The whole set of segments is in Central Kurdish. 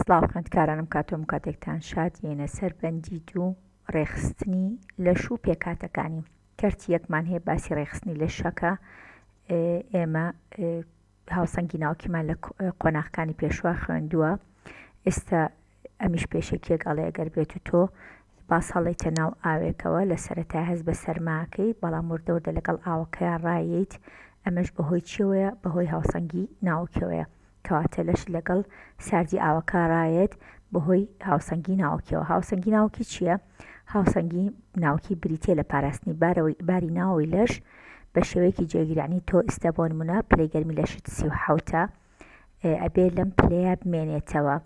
سڵاو خوێندکارانم کاتۆم کاتێکتان شاد یەینە سەر بەندی دوو ڕێخستنی لەش و پێکاتەکانی کەرتی یەکمان هەیە باسی ڕێخستنی لە شەکە ئێمە هاوسەنگی ناوکیمان لە قۆناخەکانی پێشوا خوێندووە ئێستا ئەمیش پێشێکیەک ئەڵێ ئەگەر بێت و تۆ باس هەڵێتە ناو ئاوێکەوە لە سەرەتا هەز بە سەرماکەی بەڵام وردەوردە لەگەڵ ئاوەکەیان ڕاییت ئەمەش بەهۆی چیەوەیە بەهۆی هاوسەنگی ناوکەوەیە کەواتە لەش لەگەڵ ساردی ئاوەکە ڕایەت بەهۆی هاوسەنگی ناوکیەوە هاوسەنگی ناوکی چییە؟ هاوسەنگی ناوکی بریتە لە پاراستنی بارەوەی باری ناوەوەی لەش بە شێوەیەکی جێگیرانی تۆ ئیستا بۆ نمونە پلەی گەرمی لەشت سی و حەوتە ئەبێ لەم پلەیە بمێنێتەوە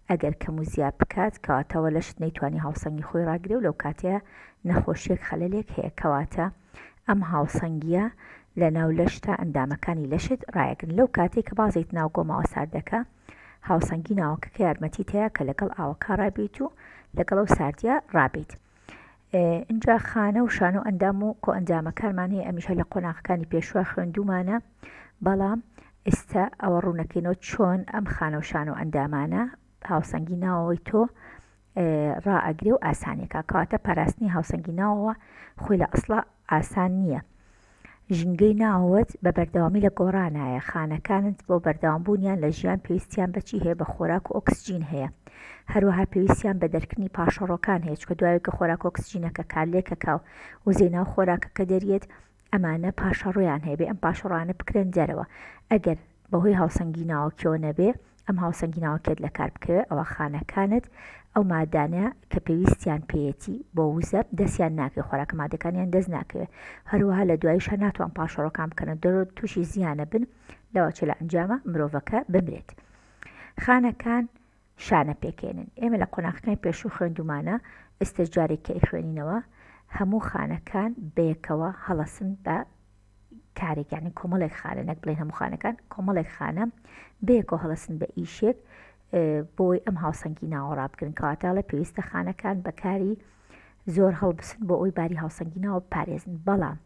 ئەگەر کەم و زیاد بکات کەواتەوە لەشت نەیتوانی هاوسەنگی خۆی ڕاگرێ و لەو کاتەیە نەخۆشیەک خەلەلێک هەیە کەواتە ئەم هاوسەنگییە لە ناو لەش تا ئەندامەکانی لەشت ڕایەگرن لەو کاتەی کە بازێیت ناو گۆماوە ساردەکە هاوسەنگی ناوەکەکە یارمەتیت هەیە کە لەگەڵ ئاوەکە ڕابیت و لەگەڵ ئەو ساردیە ڕابیت اینجا خانە و شانە و ئەندام و کۆ ئەنجامەکانمان هەیە ئەمیشە لە قۆناغەکانی پێشوە خوێندومانە بەڵام ئێستا ئەوە ڕوونەکەینەوە چۆن ئەم خانەوشان و ئەندامانە هاوسەنگی ناوەوەی تۆ ڕائەگرێ و ئاسانیە کا کەواتە پاراستنی هاوسەنگی ناوەوە خۆی لە ئەسڵا ئاسان نییە ژینگەی ناوەوەت بە بەردەوامی لە گۆڕانایە خانەکانت بۆ بەردەوام بوونیان لە ژیان پێویستیان بەچی هەیە بە خۆراک و ئۆکسجین هەیە هەروەها پێویستیان بە دەرکردنی پاشەڕۆکان هەیە چکە دوایە کە خۆراک ئۆکسجینەکە کارلێکەکە و وزەی ناو خۆراکەکە دەریێت ئەمانە پاشەڕۆیان هەیە بێ ئەم پاشەڕۆیانە بکرێن دەرەوە ئەگەر بەهۆی هاوسەنگی ناوەکیەوە نەبێ ئەم هاوسەنگی ناوەکێت لە کار بکەوێت ئەوە خانەکانت ئەو مادانە کە پێویستیان پێەتی بۆ وزە دەستیان ناکەی خۆراکە مادەکانیان دەست ناکەوێت هەروەها لە دوایشە ناتوان پاشەڕۆکان بکەنە دەرۆ تووشی زیانە بن لەوە چ لە ئەنجامە مرۆڤەکە بمرێت خانەکان شانە پێکەێنن ئێمە لە قۆناخەکانی پێشوو خوێندومانە ئێستش جارێک کە ئەیخوێنینەوە هەموو خانەکان بەیەکەوە هەڵەسن بە کارێکانی کۆمەڵێک خانە نەک بڵێن هەموو خانەکان کۆمەڵێک خانە بەیەکەوە هەڵەسن بە ئیشێک بۆی ئەم هاوسەنگی ناوەڕا بگرن کەواتاڵە پێویستە خانەکان بەکاری زۆر هەڵبسن بۆ ئەوی باری هاوسەنگی ناوە پارێزن بەڵام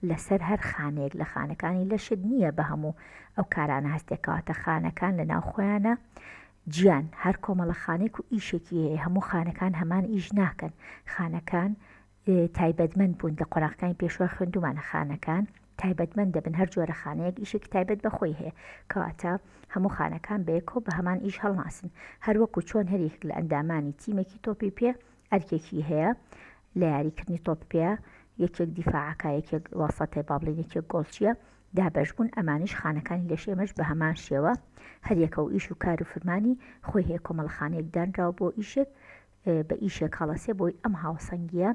لەسەر هەر خانەیەک لە خانەکانی لەشت نییە بە هەموو ئەو کارانە هەستێکەواتە خانەکان لە ناو خۆیانە جیان هەر کۆمەڵە خانێک و ئیشێکی هەیە هەموو خانەکان هەمان ئیش ناکەن خانەکان تایبەتمەند بوون لە قۆراقەکانی پێشوە خوێندومانە خانەکان تایبەتمەند دەبن هەر جۆرە خانەیەک ئیشێکی تایبەت بەخۆی هەیە کەواتە هەموو خانەکان بەیەکۆ بە هەمان ئیش هەڵناسن هەروەکو چۆن هەریک لە ئەندامانی تیمێکی تۆپی پێ ئەرکێکی هەیە لە یاری کردنی تۆپ پێە یەکێک دیفاعکە یەکێک واسەتێ بابلین یەکێک گۆڵچیە دابش بوون ئەمانیش خانەکانی لەش ئێمەش بە هەمان شێوە هەریەکە و ئیش و کار و فرمانی خۆی هەیە کۆمەڵخانەیەک دانراو بۆ ئیشێک بە ئیشێک هەڵەسێ بۆی ئەم هاوسەنگیە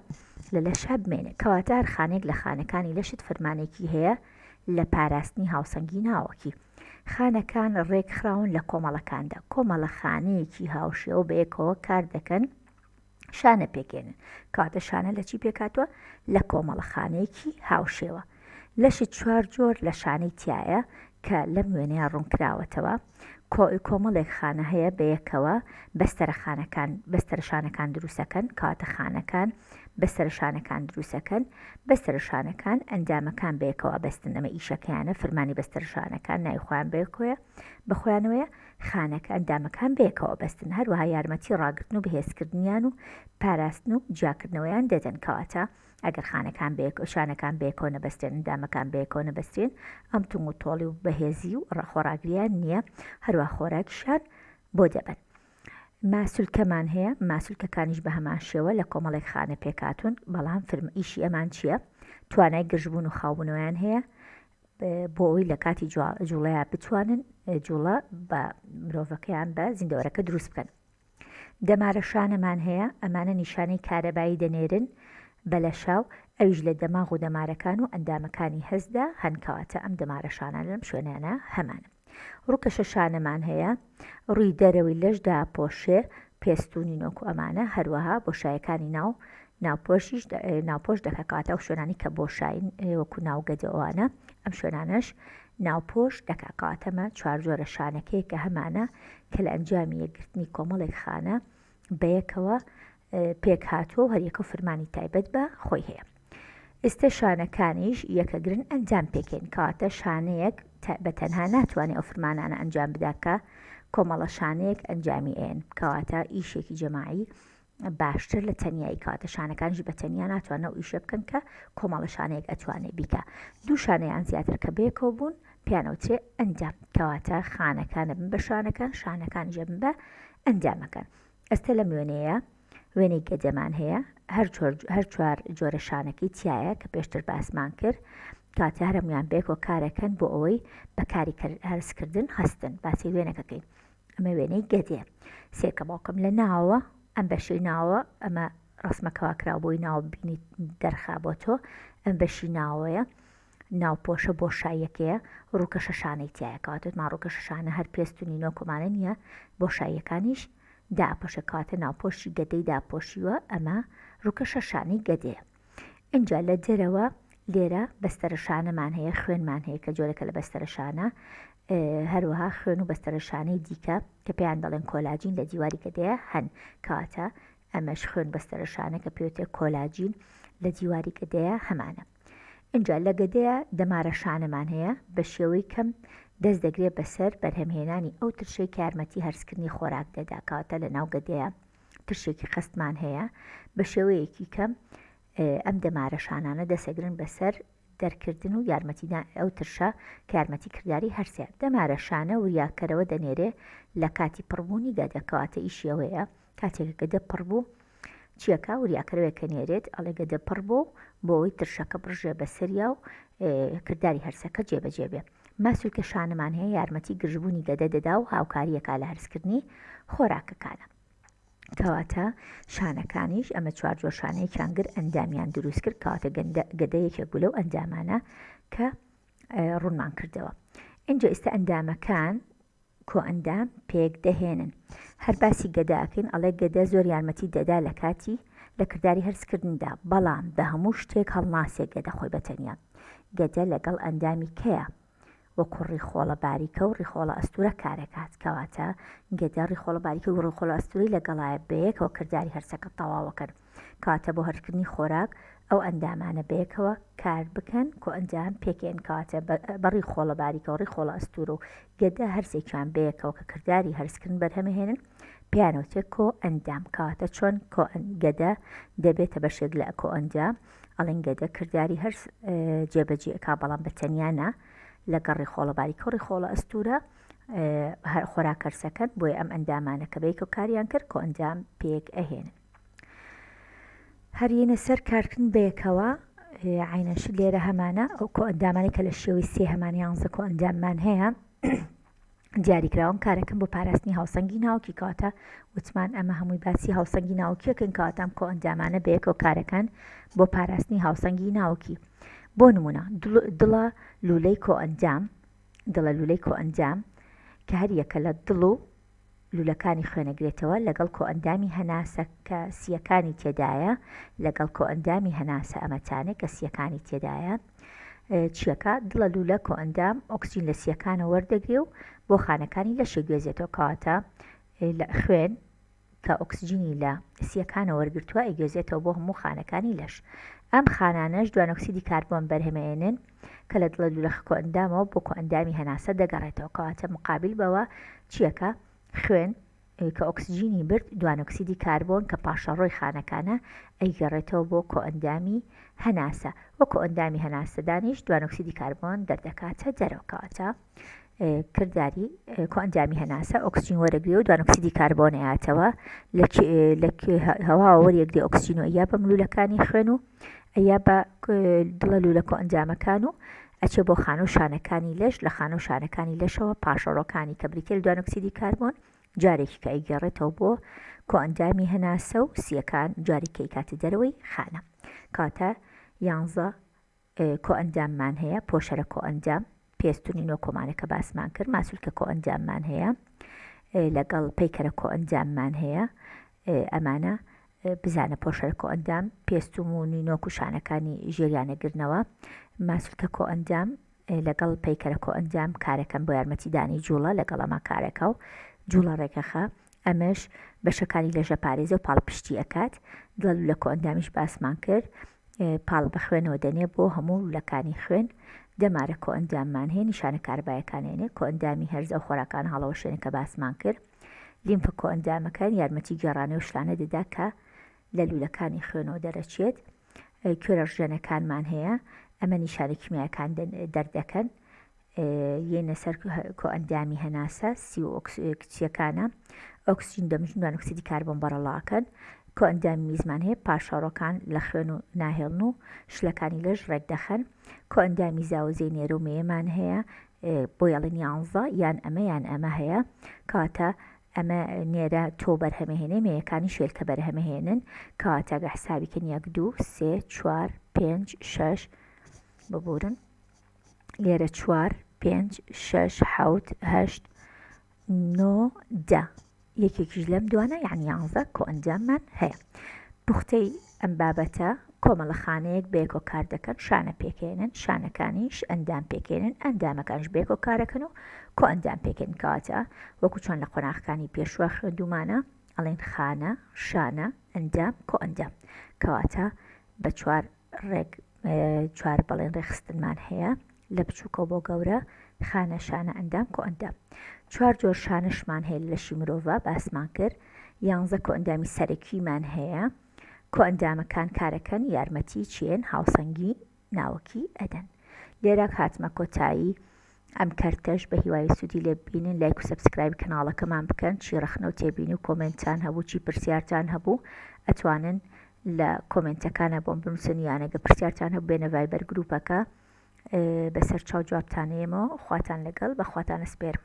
لە لە شە بمێنێ کەواتار خانێک لە خانەکانی لەشت فرمانێکی هەیە لە پاراستنی هاوسەنگی ناوەکی خانەکان ڕێکخراون لە کۆمەڵەکاندا کۆمەڵە خانەیەکی هاوشێوە بەیەکەوە کار دەکەن شانە پێکێنن کاتە شانە لە چی پێکاتوە لە کۆمەڵە خانەیەکی هاوشێوە لەش چوار جۆر لە شانەی تایە کە لەم وێنەیە ڕوونکراوەتەوە کۆمەڵێک خانە هەیە بەیەکەوە بەستەرە خانەکان بەستەرە شانەکان دروستەکەن کاتە خانەکان بەسەرە شانەکان دروسەکەن بەسەرە شانەکان ئەندامەکان بەیەکەوە بەستن ئەمە ئیشەکەیانە فرمانی بەستەرە شانەکان ناوی خۆیان بەیەکۆیە بەخۆیانەوەە خانەکە ئەندامەکان بەیەکەوە بەستن هەروەها یارمەتی ڕاگرتن و بەهێزکردنیان و پاراستن و جیاکردنەوەیان دەدەن کەواتە ئەگەر خانەکان بەیەک شانەکان بەیەکۆ نەبەستێن ئەندامەکان بەیەکۆ نەبەستێن ئەم تونگ و تۆڵی و بەهێزی و ڕەخۆراگریان نییە هەروە خۆراکیشان بۆ دەبن ماسولکەمان هەیە، ماسولکەکانیش بە هەمان شێوە لە کۆمەڵێک خانە پێکهاتوون، بەڵام فرمە ئیشی ئەمان چییە؟ توانای گرژبوون و خاوبوونەوەیان هەیە بۆ ئەوی لە کاتی جوڵەیە بتوانن جوڵە بە مرۆڤەکەیان بە زیندەوەرەکە دروست بکەن. دەمارە شانەمان هەیە، ئەمانە نیشانەی کارەبایی دەنێرن بە لەشاو ئەویش لە دەماغ و دەمارەکان و ئەندامەکانی هەستدا هەنکەواتە ئەم دەمارە شانان لەم شوێنانە هەمانن. ڕوکەشە شانەمان هەیە ڕوی دەرەوەی لەش داپۆشێ پێستونی نۆکو ئەمانە هەروەها بۆشایەکانی ناو ناوپۆشیش ناوپۆش دەکە کەواتە ئەو شوێنانی کە بۆشاین وەکو ناوگەدەوانە ئەم شوێنانەش ناوپۆش دەکا کەواتەمە چوار جۆرە شانەکەی کە هەمانە کە لە ئەنجامی یەکگرتنی کۆمەڵێک خانە بەیەکەوە پێک هاتووە و هەریەکە و فرمانی تایبەت بە خۆی هەیە ئێستە شانەکانیش یەکەگرن ئەنجام پێکەین کەواتە شانەیەک بە تەنها ناتوانێت ئەو فرمانانە ئەنجام بداکە کۆمەڵە شانەیەک ئەنجامی ئێن کەواتە ئیشێکی جەماعی باشتر لە تەنایی کاتە شانەکانش بە تەنیا ناتوانە و ئیشە بکەن کە کۆمەڵە شانەیەک ئەتوانێ بیکە دوو شانەیان زیاتر کە بێکەوە بوون پیانەوترێ ئەندام کەواتە خانەکان ئەبن بە شانەکان شانەکانیش ئەبن بە ئەندامەکان ئەستە لەم وێنەیە وێنەی گەدەمان هەیە هەر چوار جۆرە شانەکەی تایە کە پێشتر باسمان کرد کاتە هەرمیان بێکۆ کارەکەن بۆ ئەوەی بەکاری هەرسکردن هەستن باسی وێنەکەکەین ئەمە وێنەی گەدێ سێکە باوکم لە ناوە ئەم بەشەی ناوە ئەمە ڕسمەکەوا کرا بۆی ناو بینی دەرخا بۆ تۆ ئەم بەشی ناوەیە ناوپۆشە بۆشاییەکەیە ڕووکەشە شانەی تایە کەواتە وتمان ڕووکەشە شانە هەر پێست و نینۆک ومانە نییە بۆشاییەکانیش داپۆشە کەواتە ناوپۆشی گەدەی داپۆشیوە ئەمە ڕووکەشە شانەی گەدەیە ئینجا لە دەرەوە لێرە بەستەرە شانەمان هەیە خوێنمان هەیە کە جۆرەکە لە بەستەرە شانە هەروەها خوێن و بەستەرە شانەی دیکە کە پێیان دەڵێن کۆلاجین لە دیواری گەدەیە هەن کاتە ئەمەش خوێن بەستەرە شانە کە پێوتێ کۆلاجین لە دیواری گەدەیە هەمانە ئینجا لە گەدەیە دەمارە شانەمان هەیە بە شێوەی کەم دەست دەگرێت بەسەر بەرهەمهێنانی ئەو ترشەی کە یارمەتی هەرسکردنی خۆراک دەدا کەواتە لە ناو گەدەیە ترشێکی قەستمان هەیە بە شێوەیەکی کەم ئەم دەمارە شانانە دەسەگرن بەسەر دەرکردن و یارمەتیدا ئەو ترشە کارمەتی کردداری هەرسێ دەمارە شانە وریاکەرەوە دەنێرێ لە کاتی پڕبوونی گەدەکەواتە ئیشیەوەیە کاتێک گەدە پڕ بوو چیەکە وریاکەرەوەێکە نێرێت ئەڵێ گەدە پڕ بۆ بۆ ئەوی ترشەکە بڕژێ بەسەریا و کردداری هەرسەکە جێبەجێ بێ ماسول کە شانەمان هەیە یارمەتی گرژبوونی گەدە دەدا و هاوکاریەکە لە هەرسکردنی خۆراکەکانە کەواتە شانەکانیش ئەمە چوار جۆشانەیە کانگر ئەندامیان دروست کرد کاتە گەدەیەکێک بوو لەو ئەندامانە کە ڕوونمان کردەوە اینجا ئێستا ئەندامەکان کۆئەندام پێک دەهێنن هەر باسی گەدە ئەکەین ئەڵێ گەدە زۆر یارمەتی دەدا لە کاتی لە کرداری هەرس کردندا بەڵام بە هەموو شتێک هەڵناسێ گەدە خۆی بە تەنیا گەدە لەگەڵ ئەندامی کەیە وەکو ڕیخۆڵە باریکە و ڕیخۆڵە ئەستورە کارەکات کەواتە گەدە ڕیخۆڵە باریکە و ڕیخۆڵە ئەستوری لەگەڵایە بەیەکەوە کرداری هەرسەکە تەواوەکەن کەواتە بۆ هەرسکردنی خۆراک ئەو ئەندامانە بەیەکەوە کار بکەن کۆئەنجام پێکێن کەواتە بەڕی خۆڵە باریکە و ڕی خۆڵە ئەستور و گەدە هەرسێکیان بەیەکەوە کە کردداری هەرسکردن بەرهەمەهێنن پیانەوتێک کۆ ئەندام کەواتە چۆن گەدە دەبێتە بەشێک لە ئەکۆ ئەنجام ئەڵنگ گەدە کردداری هەرس جێبەجی ئەک بەڵام بە تەنیانە لە گەڕی خۆڵە باریکە و ڕی خۆڵە ئەستورە هەر خۆراکەرسەکەن بۆی ئەم ئەندامانە کە بەیکۆ کاریان کرد کۆ ئەنجام پێک ئەهێنن هەرینە سەر کارکردن بەیەکەوە عینەش لێرە هەمانە ئەو کۆ ئەندامانی کە لە شێوەی سێ هەمان یانزە کۆ ئەنداممان هەیە دیاریکراون کارەکەم بۆ پاراستنی هاوسەنگی ناوکی کاتە وتمان ئەمە هەمووی باسی هاوسەنگی ناوکیەکەن کاتام کۆ ئەندامانە بەیەکەوە کارەکان بۆ پاراستنی هاوسەنگی ناوکی بۆ نمونە دڵە لولەی کۆ ئەندام دڵە لولەی کۆ ئەندام کە هەریەکە لە دڵ و لولەکانی خوێنەگرێتەوە لەگەڵ کۆئەندامی هەناسە کە سییەکانی تێدایە لەگەڵ کۆئەندامی هەناسە ئەمە تانێ کە سییەکانی تێدایە چیەکە دڵە لولە کۆئەندام ئۆکسجین لە سییەکانە وەردەگرێ و بۆ خانەکانی لەشێ گوێزێتەوە کەواتە لە خوێن کە ئۆکسجینی لە سییەکانە وەرگتووە ئەگوێزێتەوە بۆ هەموو خانەکانی لەش ئەم خانانەش دوانۆکسیدی کاربۆن بەرهەمەێنن کە لە دڵە دولەخە کۆئەندامەوە بۆ کۆئەندامی هەناسە دەگەڕێتەوە کەواتە مقابل بەوە چیەکە خوێن کە ئۆکسجینی برد دوانۆکسیدی کاربۆن کە پاشەڕۆی خانەکانە ئەیگەڕێتەوە بۆ کۆئەندامی هەناسە وە کۆئەندامی هەناسەدانیش دوانۆکسیدی کاربۆن دەردەکاتە دەرەوەکەواتە کرداری کۆئەندامی هەناسە ئۆکسجین وەرەگرێ و دوانۆکسیدی کاربۆن ئەیاتەوە لە هەواوە وەریەکدێ ئۆکسجین و ئەیا بە ملوولەکانی خوێن و ئەیا بە دڵە لوولە کۆئەندامەکان و ئەچێ بۆ خانە و شانەکانی لەش لە خانە و شانەکانی لەشەوە پاشەڕۆکانی کە بریتە لە دوانۆکسیدی کاربۆن جارێکی کە ئەیگەڕێتەوە بۆ کۆئەندامی هەناسە و سیەکان جارێکی کاتە دەرەوەی خانە کاتە یانزە کۆئەنداممان هەیە، پۆشەرە کۆئەندام، پێستونی نۆ کۆمانە کە باسمان کرد، ماسولکە کۆئەنداممان هەیە، لەگەڵ پەیکەرە کۆئەنداممان هەیە، ئەمانە بزانە پۆشەرە کۆئەندام، پێستوم و نینۆک و شانەکانی ژێریان ئەگرنەوە، ماسولکە کۆئەندام، لەگەڵ پەیکەرە کۆئەندام کارەکەن بۆ یارمەتیدانی جووڵە لەگەڵ ئەما کارەکە و جووڵە ڕێکەخە، ئەمەش بەشەکانی لە ژەپارێزە و پاڵپشتی ئەکات دوال و لە کۆئەندامیش باسمان کرد پاڵ بە خوێنەوە دەنێ بۆ هەموو لولەکانی خوێن دەمارە کۆئەنداممان هەیە نیشانە کاربایەکانێنێ کۆئەندامی هەرزە و خۆراکان هەڵەوەشێنە کە باسمان کرد لیمفە کۆئەندامەکان یارمەتی گێڕانەوە شلانە دەدا کە لە لولەکانی خوێنەوە دەرەچێت کوێرەژێنەکانمان هەیە ئەمە نیشانە کیمیاکان دەردەکەن یەینە سەر کۆئەندامی هەناسە سی و کچیەکانە ئۆکسجین دەم ژنوان ئۆکسیدی کاربۆن بەڕەڵاکەن کۆئەندامی میزمان هەیە پاشەڕۆکان لە خوێن و ناهێڵن و شلەکانی لەش ڕێک دەخەن کۆئەندامی زاوزێ نێرە و مێمان هەیە بۆ یاڵین یانزە یان ئەمە یان ئەمە هەیە کاتە ئەمە نێرە تۆ بەرهەمەهێنێ مەیەکانی شێلکە بەرهەمەهێنن کاتەگە حسابیکە نیەک دوو سێ چوار پێنج شش ببورن لێرە چوار پێنج شش حوت هەشت نۆ دە یەکێکیش لەم دوانە یعنی یانزە کۆ ئەنجاممان هەیە پوختەی ئەم بابەتە کۆمەڵە خانەیەک بێکۆ کار دەکەن شانە پێکێنن شانەکانیش ئەندام پێکێنن ئەندامەکانش بێکۆ کارەکەن و کۆ ئەندام پێکێن کاتە وەکو چۆن لە قۆناخەکانی پێشوە خوێندومانە ئەڵێن خانە شانە ئەندام کۆ ئەندام کەواتە بە چوار ڕێک چوار بەڵێن ڕێکخستنمان هەیە لە بچووکەوە بۆ گەورە خانە شانە ئەندام کۆ ئەندام چوار جۆر شانشمان هەیە لەشی مرۆڤ باسمان کرد یانزە کۆ ئەندامی سەرەکیمان هەیە کۆ ئەندامەکان کارەکەن یارمەتی چێن هاوسەنگی ناوەکی ئەدەن لێرە هاتمە کۆتایی ئەم کەرتەش بە هیوای سودی لێ ببینن لایک و سەبسکرایبی کەناڵەکەمان بکەن چی ڕەخنە و تێبینی و کۆمێنتتان هەبوو چی پرسیارتان هەبوو ئەتوانن لە کۆمێنتەکانە بۆم بنووسن یانەگە پرسیارتان هەبوو بێنە ڤایبەر گروپەکە بەسەر چاو جوابتانەیەمەوە خواتان لەگەڵ بەخواتانە سپێرم